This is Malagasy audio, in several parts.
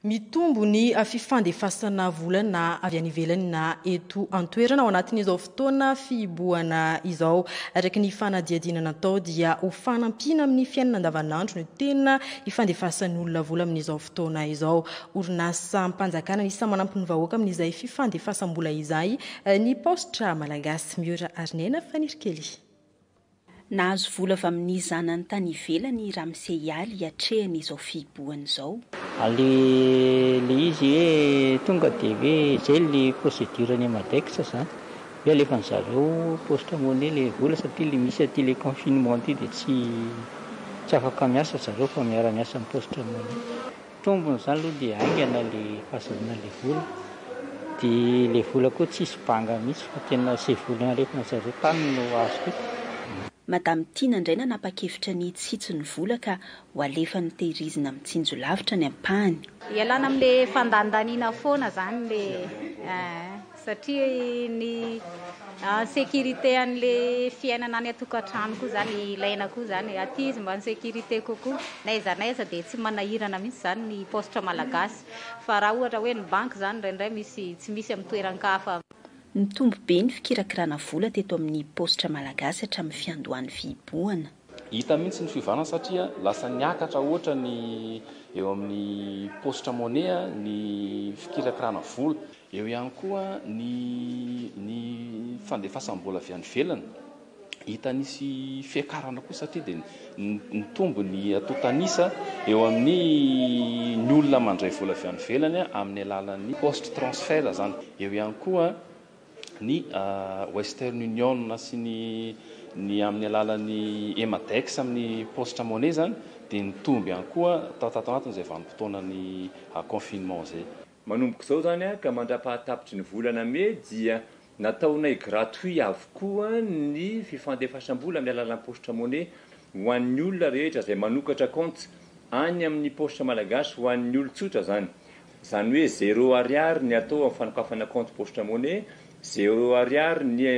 Mitombo ny fifandefasana vola na avy any ivelany na eto an-toerana ao anatin'izao fotoana fihibohana izao. Araka ny fanadihadiana natao dia ho fanampiana amin'ny fiainana andavanandro no tena ifandefasan'ny olona vola amin'izao fotoana izao. Orinasam-panjakana anisan'ny manampy ny vahoaka amin'izay fifandefasam-bola izay ny Paositra Malagasy. Miora Harinena, Fanirikely. Nahazo vola avy amin'ny zanany tany ivelany i Ramse Yaly hiatrehany izao fihibohany izao. Aleha le izy hoe tonga de hoe zay le procedure any Madex zany hoe alefan'ny zareo poste monnaie le vola satria le misy aty le confinement ty de tsy tsy afaka miasa zareo fa miara miasa am poste monnaie. Tombony izany aloha dia haingana le fahazoana le vola dia le vola koa tsisy banga mihitsy fa tena ze vola aretina zareo tany no azoko. Madame Tiana indray nanapa-kevitra ny hitsitsy ny vola ka ho alefany tehirizina mitsinjo lavitra ny ampahany. Ialana amin'le fandandaniana foana zany le eh. Satria ny en sécurité an'le fiainana any an-tokantrano koa zany ilaina koa zany, aty izy mba en sécurité kokoa, n'aiza n'aiza dia tsy manahirana mihitsy zany ny paositra malagasy, fa raha ohatra hoe ny banky zany indraindray misy tsy misy amin'ny toeran-kafa. Nitombo be ny fikirakirana vola teto amin'ny paositra malagasy hatramin'ny fiandohan'ny fihibohana. Hita mihitsy ny fiovana satria lasa niakatra hoatra ny eo amin'ny paositra money ny fikirakirana vola. Eo ihany koa ny ny fandefasam-bola avy any ivelany. Hita nisy fiakarana koa satria dia nitombo ny antontan'isa eo amin'ny ny olona mandray vola avy any ivelany amin'ny alalan'ny poste transfert izany. Eo ihany koa. ny Western Union sy ny ny amin'ny alalan'ny Emadex amin'ny paositra money zany dia nitombo ihany koa tao tato anatin'izay vanim-potoanan'ny confinement izay. Manomboka izao izany ka mandra-pahatapitry ny volana mey dia nataonay gratuit avokoa ny fifandefasam-bola amin'ny alalan'ny paositra money ho an'ny olona rehetra izay manokatra kaonty any amin'ny paositra malagasy ho an'ny olon-tsotra izany. Izany hoe zéro ariary ny atao amin'ny fanokafana compte poste money, zéro ariary ny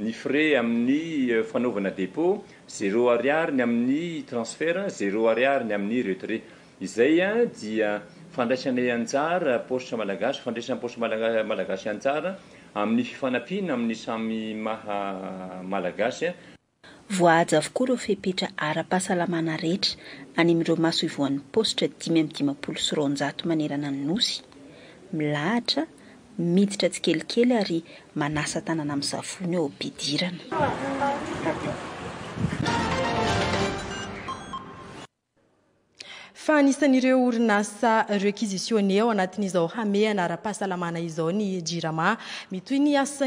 ny frais amin'ny fanaovana dépôt, zéro ariary ny amin'ny transfert, zéro ariary ny amin'ny retrait. Izay dia fandraisanay anjara, paositra malagasy, fandraisan'ny paositra malaga- malagasy anjara amin'ny fifanampiana amin'ny samy maha malagasy. Voahaja avokoa ireo fepetra ara-pahasalamana rehetra any amin'ireo masoivohon'ny paositra dimy amby dimampolo sy roanjato manerana ny Nosy. Milahatra, miditra tsikelikely ary manasa tanana amin'ny savony eo am-pidirana. Fa anisan'ireo orinasa requisitionnées ao anatin'izao hamehana ara-pahasalamana izao ny Jirama. Mitohy ny asan'ny.